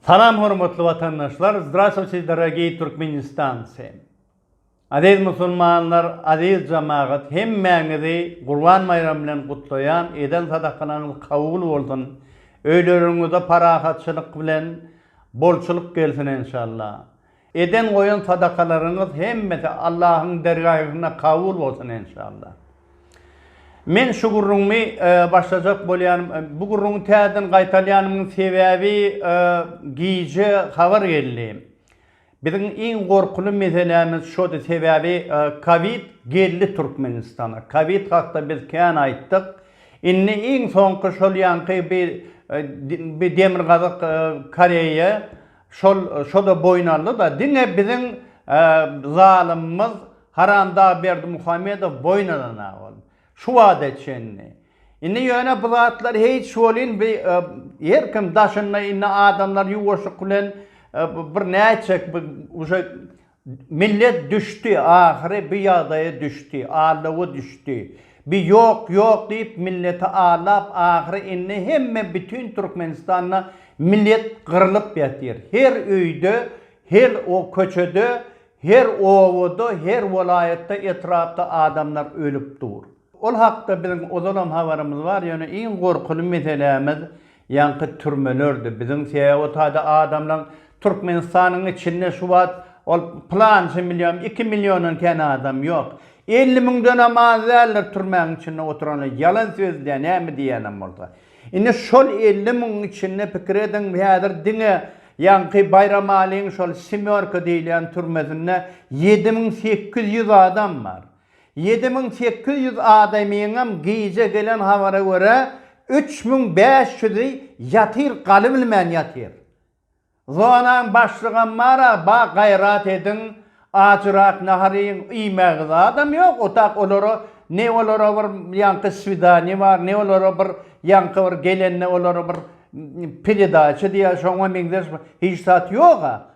Salam hormatly watandaşlar, zdraswçi dorogiý Türkmenistancy. Aziz musulmanlar, aziz jamagat, hemmäňizi Gurban baýramy bilen gutlaýan, eden sadakalaryňyz kabul bolsun. Öýleriňizde parahatçylyk bilen bolçulyk gelsin enşalla. Eden-goýan sadakalaryňyz hemmesi Allahyň dergaýgynda kabul bolsun enşalla. Men şu gürrüňmi başlajak bolýanym, bu gürrüňi täzeden gaýtalýanymyň sebäbi gije habar geldi. Biziň iň gorkuly meselämiz şody sebäbi kowid geldi Türkmenistana. Kowid hakda biz kän aýtdyk. Indi iň soňky şol ýaňky bi demirgazyk Koreýa Şol şoda boýun aldy-da, diňe biziň zalymymyz Haramdag Berdimuhamedow boýun alan-a ol. Şu wada çenli. Indi ýöne bu zatlar hiç welin bi her kim daşynda indi adamlar ýuwaşlyk bilen bir nätjek bi uje Millet düşdi ahyry bi ýagdaýa düşdi allawa düşdi bi ýok ýok diýip milleti allap ahyry indi hemme bütün türkmenistanda millet gyrlyp ýatyr her öýde hel o köçede her obada her welaýatda etrapda adamlar ölüp dur ol hakda biziň ozalam habarymyz bar ýöne iň gorkuly meselämiz Ýaňky türmelerde biziň sebäbotady adamlaň Türkmenistanyň içinde şu wagt ol plança million, iki milliondan kän adam ýok. Elli müňdenem az däldir türmäň içinde oturanlar. Ýalan sözleýär näme diýýänem bolsa. Indi şol elli müňüň içinde pikir ediň häzir diňe ýaňky Baýramalyň şol semýorka diýilýän türmesinde ýedi müň sekiz ýüz adam bar. Ýedi müň sekiz ýüz adamyňam gije gelen habara görä, üç müň bäş ýüzi ýatyr galybilmän ýatyr. Zonaň başlygam bar-a, ba, gaýrat ediň, ajyrak nahar iýiň, iýmäge zadam ýok, otag olara, ne olara bir ýaňky swidaniýe bar, ne olara bir ýaňky bir gelende olara bir peredaça diýýär, şoňa meňzeş hiç zat ýog-a.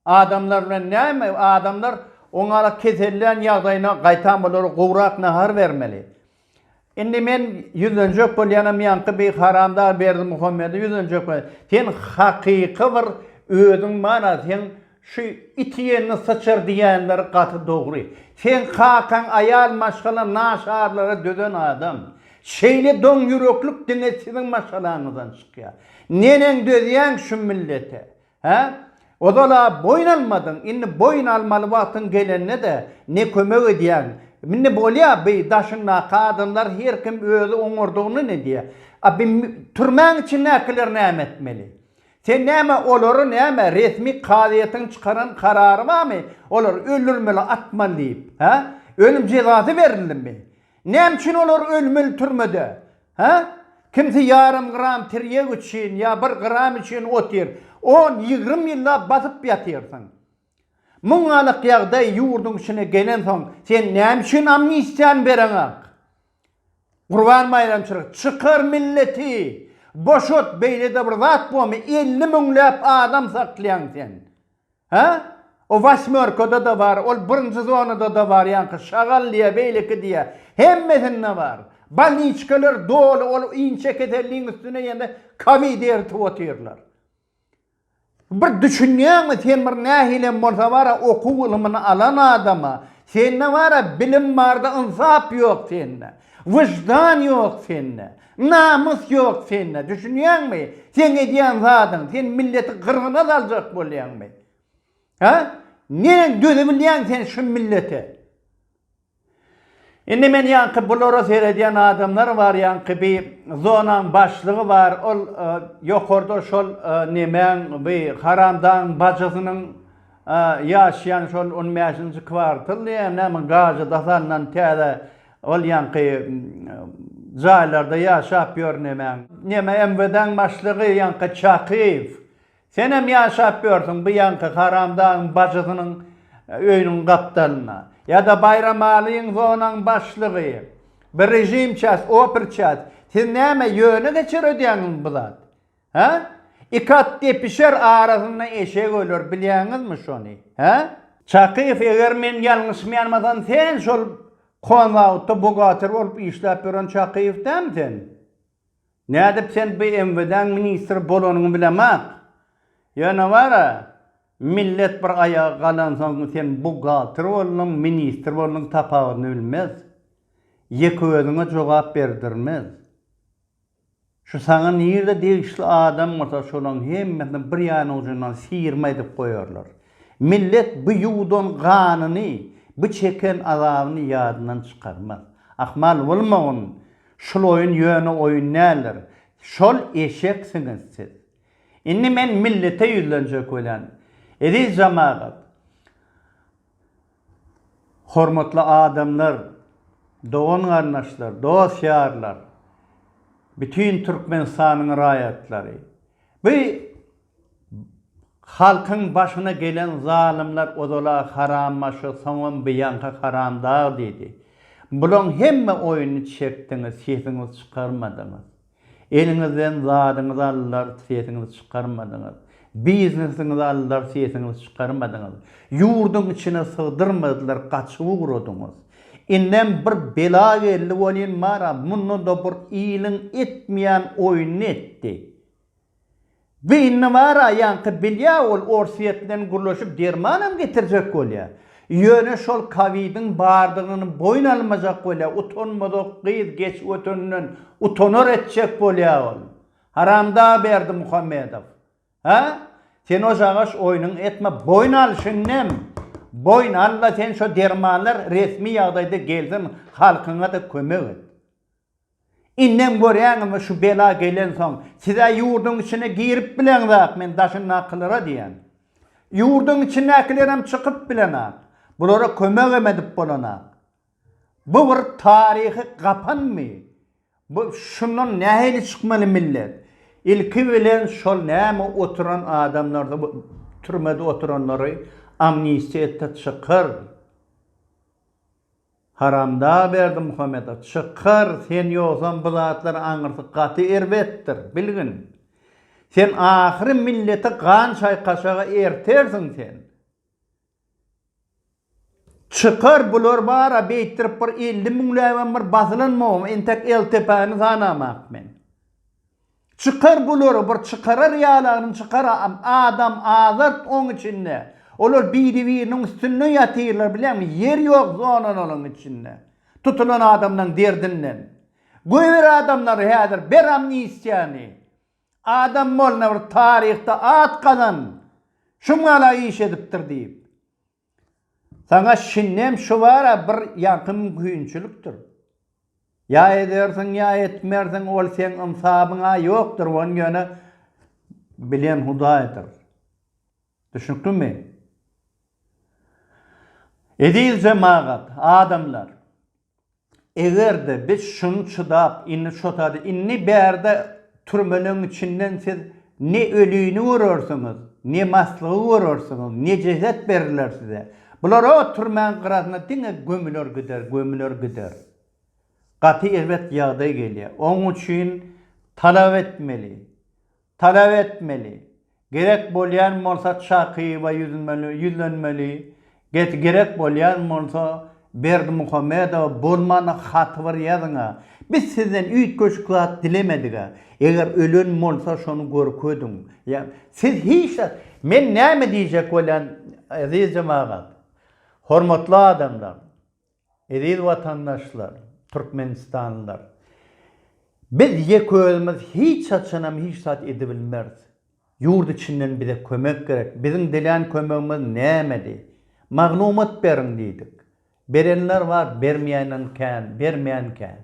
Adamlar bilen näme? Adamlar oňala kesellän ýagdaýyna gaýtam olara gowrak nahar bermeli. Indi men ýüzlenjek bolýanam ýaňky bir haramdag Berdimuhamede ýüzlenjek bolýan. Sen hakyky bir özüň mana sen şu it ýenini syçar diýenleri gaty dogry. Sen kakaň aýal maşgala naşarlara dözen adam. Şeýle doň ýüreklik diňe siziň maşgalaňyzdan çykýar. Neneň dözýäň şu millete? Hä? Ozal-a boýun almadyň, indi boýun almaly wagtyň gelende-de ne kömek edýäň. Indi bolýa, bi daşyňdaky adamlar her kim özi oňardygyny nedýä. A bi türmäň içindäkiler näme etmeli? Sen näme olary näme resmi kazyýetiň çykaran karary barmy olary öldürmeli, atmaly diýip? Hä? Ölüm jezasy berilimi? Näme üçin olar ölmeli türmede? Hä? Kimsi ýarym gram tirýek üçin ýa bir gram üçin otyr. On, ýigrimi ýyllap basyp ýatyrsyň. Muň alak ýagdaý ýurduň içine gelensoň, sen näme üçin amnistiýany bereňok? Gurban baýramçylyk, çykar milleti! Boşat, beýle-de bir zat bormy, elli müňläp adam saklaýaň sen. Hä? O wasmörkada-da bar, ol birinji zonada-da bar ýaňky, şagal diýýär, beýleki diýýär. Hemmesinde bar. Bolniçkalar doly ol inçe keselligiň üstüne ýene kowid eritip otyrlar. Bir düşünýäňmi, sen bir nähilem bolsa bar-a okuw ylymyny alan adam-a, sende bar-a bilim bar-da ynsap ýok sende. Wyždan ýok sende. Namys ýok sende, düşünýäňmi? Seň edýän zadyň, sen milleti gyrgyna saljak bolýaňmy? Hä? Neneň dözebilýäň sen şu millete? Indi men ýaňky bulara seredýän adamlar bar, ýaňky bi zonaň başlygy bar, ol ýokarda şol nemäň, bi haramdagyň bajysynyň ýaşaýan şol on bäşinji kwartal diýýär, näme gazada salnan täze Ol ýaňky jaýlarda ýaşap ýör nemäň? Neme MWD-iň başlygy ýaňky Çakyýew? Senem ýaşap ýörsüň bu ýaňky haramdagyň bajysynyň öýüniň gapdalynda. Ýa-da Baýramalyň zonaň başlygy? Bir režimças, operças. Siz näme ýöne geçer ödýäňizmi bu zat? Hä? Iki at depişer, arasynda eşek öler, bilýäňizmi şony? Hä? Çakyýew, eger men ýalňyşmaýanmasam, sen şol Konzawodda buhgater bolup işläp ýören Çakyýew dämi sen? Nädip sen BMWD-niň ministri bolanyňy bilemok. Ýöne bar-a, millet bir aýaga galansoň, sen buhgalter bolduň, ministr bolduň tapawudyny bilmez. Ýeke özüňe jogap berdirmez. Şu saňa nirde degişli adam bolsa şolaň hemmesini bir ýan ujundan syýrma edip goýarlar. Millet bu ýuwdan ganyny, bu çeken azabyny ýadyndan çykarmaz. Ahmal bolmagyn, şul oýun ýöne oýun däldir. Şol eşeksiňiz siz. Indi men millete ýüzlenjek welin, eziz jamagat, Hormatly adamlar, dogan-garyndaşlar, dost-ýarlar, bütin Türkmenistanyň raýatlary! Bu halkyň başyna gelen zalymlar ozal-a harambaşy, soňam bu ýaňky haramdag diýdi. Bulaň hemme oýuny çekdiňiz, sesiňizi çykarmadyňyz. Eliňizden zadyňyzy aldylar, sesiňizi çykarmadyňyz. Biznesiňizi aldylar, sesiňizi çykarmadyňyz. Ýurduň içine sygdyrmadylar, gaçyp ugradyňyz. Indem bir bela geldi welin bar-a, munda-da bir iliň etmeýän oýnuny etdi. Beýnine bar-a ýaňky bilýä ol Orsýet bilen gürleşip dermanam getirjek bolýa. Ýöne şol kawidiň bardygyny boýun almajak bolýa utanmazok gyz geç öteninden utanar etjek bolýa ol. Haramda Berdimuhamedow. Hä? Sen ojagaş oýnuňy etme boýun al şindem. Boýun al-da sen şo dermanlar resmi ýagdaýda gelsin halkyňa-da kömek et. Indem görýäňizmi şu bela gelensoň, siz-ä ýurduň içine girip bileňzak, men daşyndakylara diýýän. Ýurduň içindäkilerem çykyp bilenak. Bulara kömegem edip bolanak. Bu bir taryhy gapanmy? Bu şundan nähili çykmaly millet? Ilki bilen şol näme oturan adamlary, türmede oturanlary amnistiýa etde çykar. Haramda Berdimuhamedow çykar sen ýogsam bu zatlar aňyrsy gaty erbetdir bilgin sen ahyry milleti gan çaýkaşaga ertersiň sen çykar bular bara beýtdirip bir elli müňläbem bir basylan mogum entek eltepäni sanamak men Çykar bulary bir çykarar ýalanym çykar adam azart oň içinde olar biri biriniň üstünde ýatyrlar bileňmi ýer ýok zonanalaň içinde tutulan adamlaň derdinden göýber adamlary häzir ber amnistiýany adam bolna bir taryhda at gazan şum gala iş edipdir diýip Saňa şindem şu bar-a bir ýaňky mümkinçilikdir. Ýa edersiň, ýa etmersiň, ol seň ynsabyň-a ýokdur, ony ýöne bilen Hudaýdyr. Düşnüklimi? Eziz jemagat, adamlar! Egerde biz şuny çydap, indi çotady, indi bärde türmeleň içinden siz ne ölini görersiňiz, ne maslygy görersiňiz, ne jeset beriler size. Bular o türmäň gyrasyna diňe gömüler gider, gömüler gider. Gaty erbet ýagdaý gelýär. Oň üçin talap etmeli. Talap etmeli. Gerek bolýan bolsa Çakyýewa ýüzmeli, ýüzlenmeli. Get gerek bolýan bolsa Berdimuhamedowa bolmana haty bir ýazyň-a. Biz sizden üýtgeşik zat dilemedik-ä. Eger ölen bolsa şony görkediň. Ýa siz hiç zat Men näme diýjek bolýan eziz jemagat. Hormatly adamlar. Eziz watandaşlar, türkmenistanlylar! Biz ýeközümiz hiç haçanam hiç zat edibilmeris. Ýurt içinden bize kömek gerek. Biziň dilän kömegimiz nämedi? Maglumat beriň diýdik. Berenler bar, bermeýänem kän, bermeýän kän.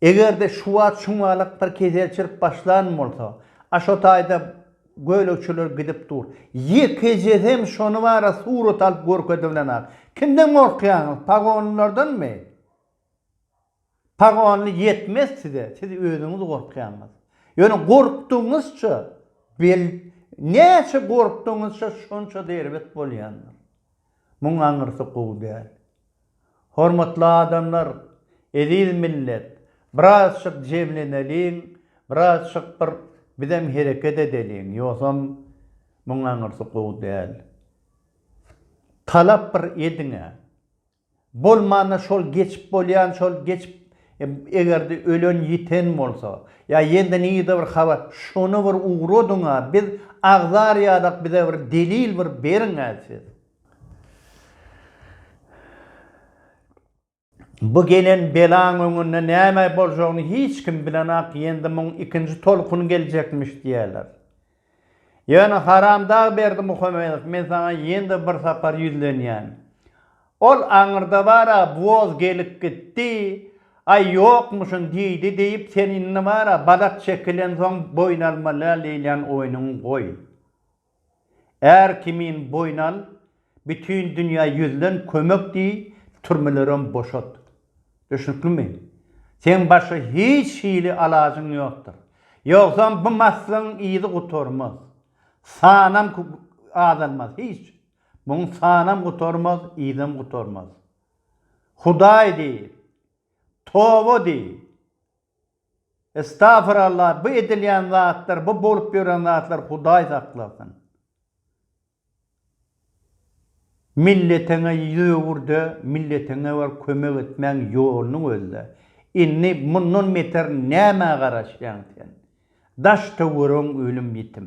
Eger-de şu wagt şuňňalak bir kesel çyrp başlan bolsa, a şo taýda gölegçiler gidip dur. Ýekejesem şony bara surat alyp görkezibilenok. Kimden gorkýaňyz, pagonlylardanmy? Pagonly ýetmez size, siz özüňiz gorkýaňyz. Ýöne gorkdugyňyzça, bel, näçe gorkdugyňyzça şonça da erbet bolýandyr. Muň aňyrsy gowy däl. Hormatly adamlar, eziz millet, birazjyk jemleneliň, birazjyk bir bizem hereket edeliň, ýogsam munuň aňyrsy gowy däl. Talap bir ediň-ä. Bolmanda şol geçip bolýan, şol geçip eger-de ölen-ýiten bolsa, ýa ýene-de nirede bir habar, şony bir ugradyň-a, biz agzar ýadak, bize bir delil bir beriň-ä siz. Bu gelen belaň öňünde näme boljagyny hiç kim bilenok, ýendi muň ikinji tolkuny geljekmiş diýýärler. Ýöne haramdag Berdimuhamedow, men saňa ýene-de bir sapar ýüzlenýän. Ol aňyrda bar-a, woz gelip gitdi, aý ýokmuşyn diýdi diýip, sen indi bar-a, balat çekilensoň boýun almaly däl diýilýän oýnuňy goý. Är kimin boýun al, bütin dünýä ýüzlen, kömek diý, türmelerem boşat. Düşnüklimi? Seň başga hiç hili alajyň ýokdur. Ýogsam bu maslyň yzy gutarmaz. Sanam azalmaz, hiç. Muň sanam gutarmaz, yzam gutarmaz. Hudaý diý! Toba diý! Estagfirallah bu edilýän zatlar bu bolup ýören zatlar Hudaý saklasyn. Milletiňe ýüz öwürde milletiňe bir kömek etmäň ýoluny gözle. Indi mundan beter nämä garaşýaň sen. Daş töweregiň ölüm ýitim.